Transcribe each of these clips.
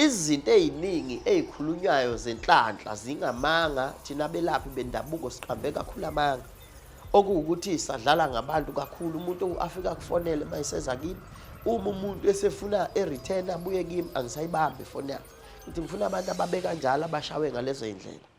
Izinto eziningi ezikhulunywayo zenhlanhla zingamanga thina belaphi bendabuko siqambe kakhulu amanga okuwukuthi sadlala ngabantu kakhulu umuntu afika kufonele mayiseza kimi uma umuntu esefuna e-return abuye kimi angisayibambi ifoni yakhe ngithi ngifuna abantu ababe kanjalo abashawe ngalezo yindlela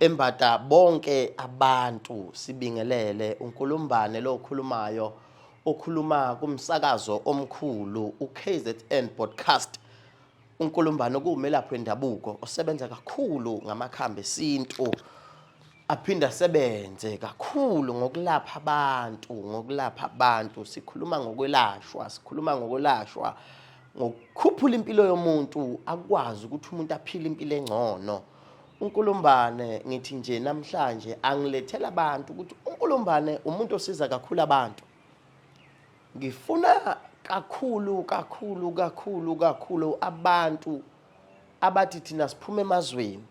Embata bonke abantu sibingelele uNkulumbane lo okhulumayo okhuluma kumsakazo omkhulu uKZN Podcast uNkulumbane okuwumelaphi wendabuko osebenza kakhulu ngamakhambi esintu aphinde asebenze kakhulu ngokulapha abantu ngokulapha abantu sikhuluma ngokwelashwa sikhuluma ngokwelashwa ngokukhuphula impilo yomuntu akwazi ukuthi umuntu aphile impilo engcono uNkulumbane ngithi nje namhlanje angilethela abantu ukuthi uNkulumbane umuntu osiza kakhulu abantu ngifuna kakhulu kakhulu kakhulu kakhulu abantu abathi thina siphuma emazweni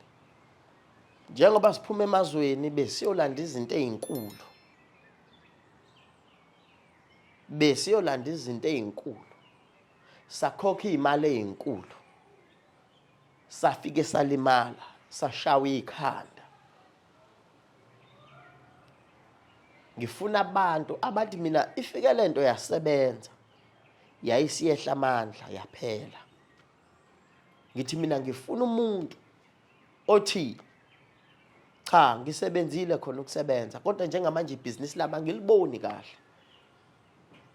njengoba siphuma emazweni besiyolanda izinto ezinkulu besiyolanda izinto ezinkulu sakhokha imali ezinkulu safike salimala sashawa ikhanda ngifuna abantu abathi mina ifike lento yasebenza yayisiyehla amandla yaphela ngithi mina ngifuna umuntu othi cha ngisebenzile khona ukusebenza kodwa njengamanje ibhizinisi lami angiliboni kahle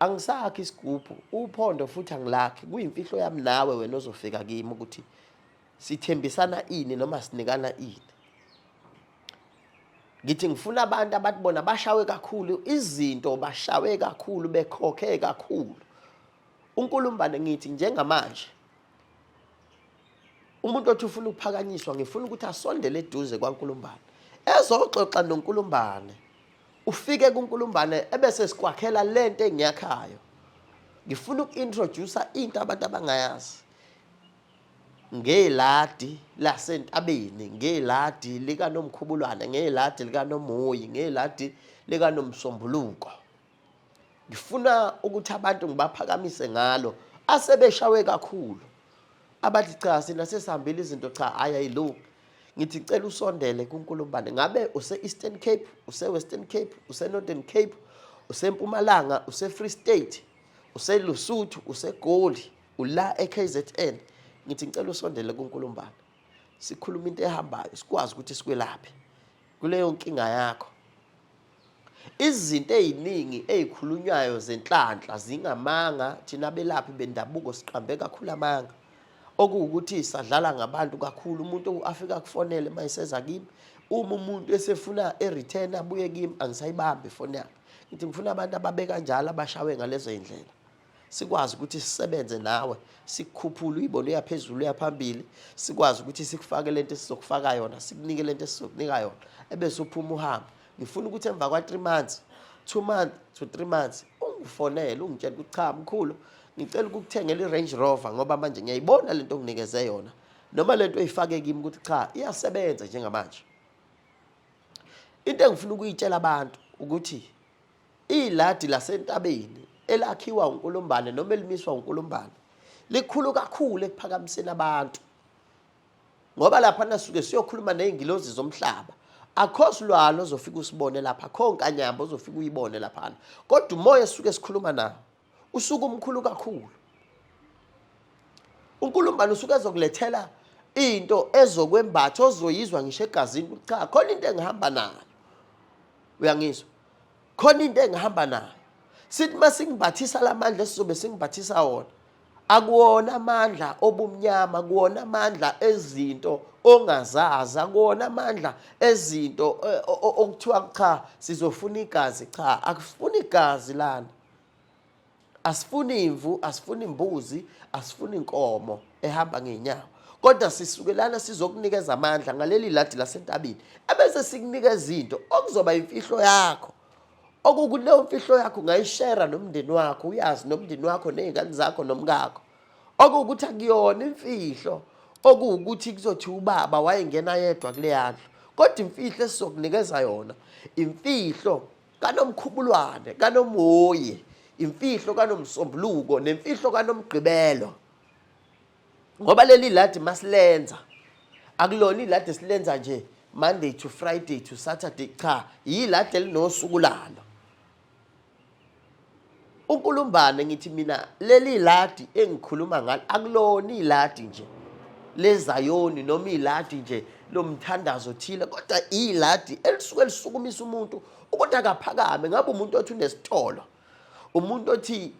angisakhi isigubhu uphondo futhi angilakhi kuyimfihlo yami nawe wena ozofika kimi ukuthi sithembisana ini noma sinikana ini ngithi ngifuna abantu abathi bona bashawe kakhulu izinto bashawe kakhulu bekhokhe kakhulu unkulumbane ngithi njengamanje umuntu othi ufuna ukuphakanyiswa ngifuna ukuthi asondele eduze kwaNkulumbane ezoxoxa noNkulumbane ufike kuNkulumbane ebese sikwakhela lento engiyakhayo ngifuna uku-introduce into abantu abangayazi ngeladi lasentabeni ngeladi likanomkhubulwane ngeladi likanomoyi ngeladi likanomsombuluko ngifuna ukuthi abantu ngibaphakamise ngalo asebeshawe kakhulu abathi cha sina sesihambile izinto cha hhayi ayilungi ngithi cela usondele kunkulumbane ngabe use-eastern cape use-western cape use-northern cape usempumalanga use-free state uselusuthu usegoli ula e-k z n ngithi ngicela usondele kunkulumbane sikhuluma into ehambayo sikwazi ukuthi sikwelaphe kuleyo nkinga yakho Izinto eziningi ezikhulunywayo zenhlanhla zingamanga thina belaphi bendabuko siqambe kakhulu amanga okuwukuthi sadlala ngabantu kakhulu umuntu afika kufonele mayiseza kimi uma umuntu esefuna e-return abuye kimi angisayibambi ifoni yakhe ngithi ngifuna abantu ababe kanjalo abashawe ngalezo indlela sikwazi ukuthi sisebenze nawe sikukhuphule uyibone uyaphezulu uyaphambili sikwazi ukuthi sikufake lento esizokufaka yona sikunike lento esizokunika yona ebese uphuma uhambe ngifuna ukuthi emva kwa 3 months 2 months to 3 months ungifonele ungitshela ukuthi cha mkhulu ngicela ukukuthengela i-Range Rover ngoba manje ngiyayibona lento onginikeze yona noma lento oyifake kimi ukuthi cha iyasebenza njengamanje into engifuna ukuyitshela abantu ukuthi Iladi lasentabeni elakhiwa uNkulumbane noma elimiswa uNkulumbane likhulu kakhulu ekuphakamiseni abantu ngoba lapha nasuke siyokhuluma nezingilozi zomhlaba akho silwalo ozofika usibone lapha akho nkanyamba ozofika uyibone laphana kodwa umoya esuke sikhuluma nawo usuku umkhulu kakhulu unkulumbana usuke ezokulethela into ezokwembatha ozoyizwa ngisho egazini ukuthi cha khona into engihamba nayo uyangizwa khona into engihamba nayo sithi uma singimbathisa la mandla esizobe singimbathisa wona akuwona amandla obumnyama kuwona amandla ezinto ongazazi akuwona amandla ezinto e, okuthiwa cha sizofuna igazi cha akufuni igazi lana asifuni imvu asifuni imbuzi asifuni inkomo ehamba ngenyawo kodwa sisuke lana sizokunikeza amandla ngaleli ladi lasentabeni ebese sikunikeza into okuzoba imfihlo yakho okukuleyo mfihlo yakho ungayishera nomndeni wakho uyazi nomndeni wakho nezingane zakho nomkakho okuwukuthi akuyona imfihlo okuwukuthi kuzothi ubaba wayengena yedwa kule yandlu kodwa imfihlo esizokunikeza yona imfihlo kanomkhubulwane kanomoyi imfihlo kanomsombuluko nemfihlo kanomgqibelo ngoba leli ladi masilenza akulona iladi esilenza nje monday to friday to saturday cha yiladi elinosuku lalo uNkulumbane ngithi mina leli ladi engikhuluma ngalo akulona iladi nje lezayoni noma iladi nje lomthandazo thile kodwa iladi elisuke lisukumisa umuntu ukuthi akaphakame ngabe umuntu othi unesitolo umuntu othi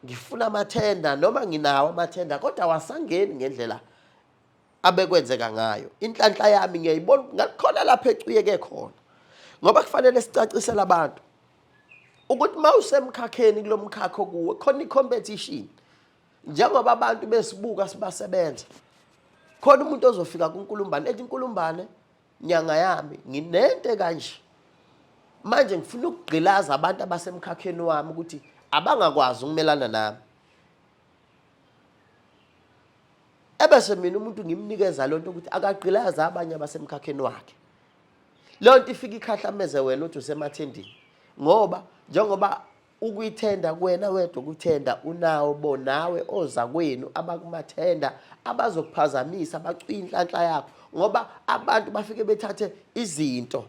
ngifuna amathenda noma nginawo amathenda kodwa wasangeni ngendlela abekwenzeka ngayo inhlanhla yami ngiyayibona ngakhona lapha ecuyeke khona ngoba kufanele sicacisele abantu ukuthi uma usemkhakheni kulo mkhakha okuwo khona i-competition njengoba abantu besibuka sibasebenza khona umuntu ozofika kunkulumbane ethi inkulumbane nyanga yami nginente kanje manje ngifuna ukugqilaza abantu abasemkhakheni wami ukuthi abangakwazi ukumelana nami ebese mina umuntu ngimnikeza lento ukuthi akagqilazi abanye abasemkhakheni wakhe leyo nto ifika ikhahlameze wena uthi usemathendini ngoba njengoba ukuyithenda kuwena wedwa ukuthenda unawo bonawe oza kwenu abakumathenda abazokuphazamisa bacwinhlanhla yakho ngoba abantu bafike bethathe izinto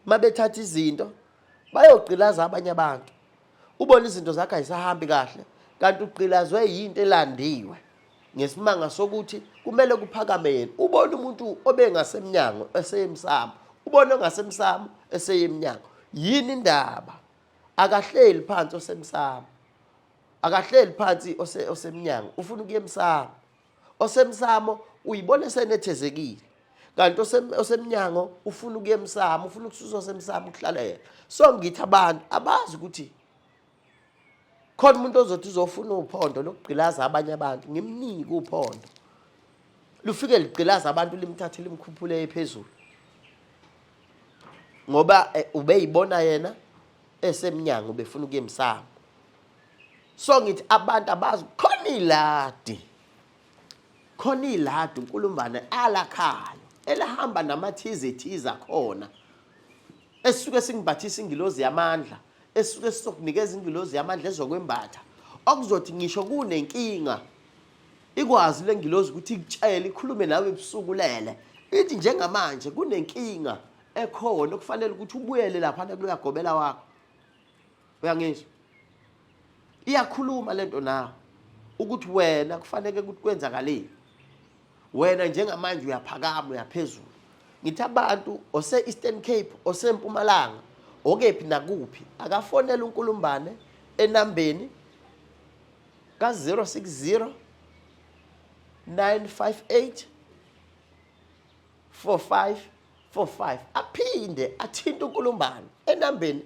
uma bethatha izinto bayogqilaza abanye abantu ubona izinto zakhe ayisahambi kahle kanti ugqilazwe yinto elandiwe ngesimanga sokuthi kumele kuphakame yena ubona umuntu obengasemnyango eseyemsamo ubona ongasemsamo eseyemnyango yini indaba akahleli phansi osemsamo akahleli phansi osemnyango ufuna ukuyemsamo osemsamo uyibona esenethezekile kanti osemnyango ufuna ukuya emsamo ufuna ukususwa semsamo ukuhlala yena so ngithi abantu abazi ukuthi khona umuntu ozothi uzofuna uphondo lokugqilaza abanye abantu ngimnike uphondo lufike ligqilaza abantu limthathe limkhuphule ephezulu ngoba eh, ubeyibona yena esemnyango befuna ukuya emsamo so ngithi abantu abazi khona iladi khona iladi unkulumbane alakhayo elahamba namathize thiza khona esuke singibhathisa ingilozi yamandla esuke sizokunikeza ingilozi yamandla ezokwembatha okuzothi ngisho kunenkinga ikwazi le ngilozi ukuthi ikutshele ikhulume nawe ebusuku lele ithi njengamanje kunenkinga ekhona okufanele ukuthi ubuyele lapha kuluyagobela wakho uyangizwa iyakhuluma lento nawe ukuthi wena kufanele ukuthi kwenzakaleni wena njengamanje uyaphakama uyaphezulu ngithi abantu ose-eastern cape osempumalanga okephi nakuphi akafonela unkulumbane enambeni ka-060 958 45 45 aphinde athinte unkulumbane enambeni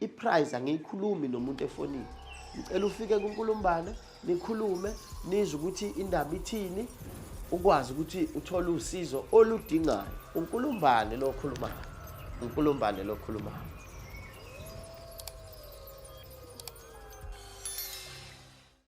iprize angiyikhulumi nomuntu efonini ngicela ufike kunkulumbana nikhulume nizwe ukuthi indaba ithini ukwazi ukuthi uthole usizo oludingayo unkulumbane lo okhulumayo unkulumbane lo okhulumayo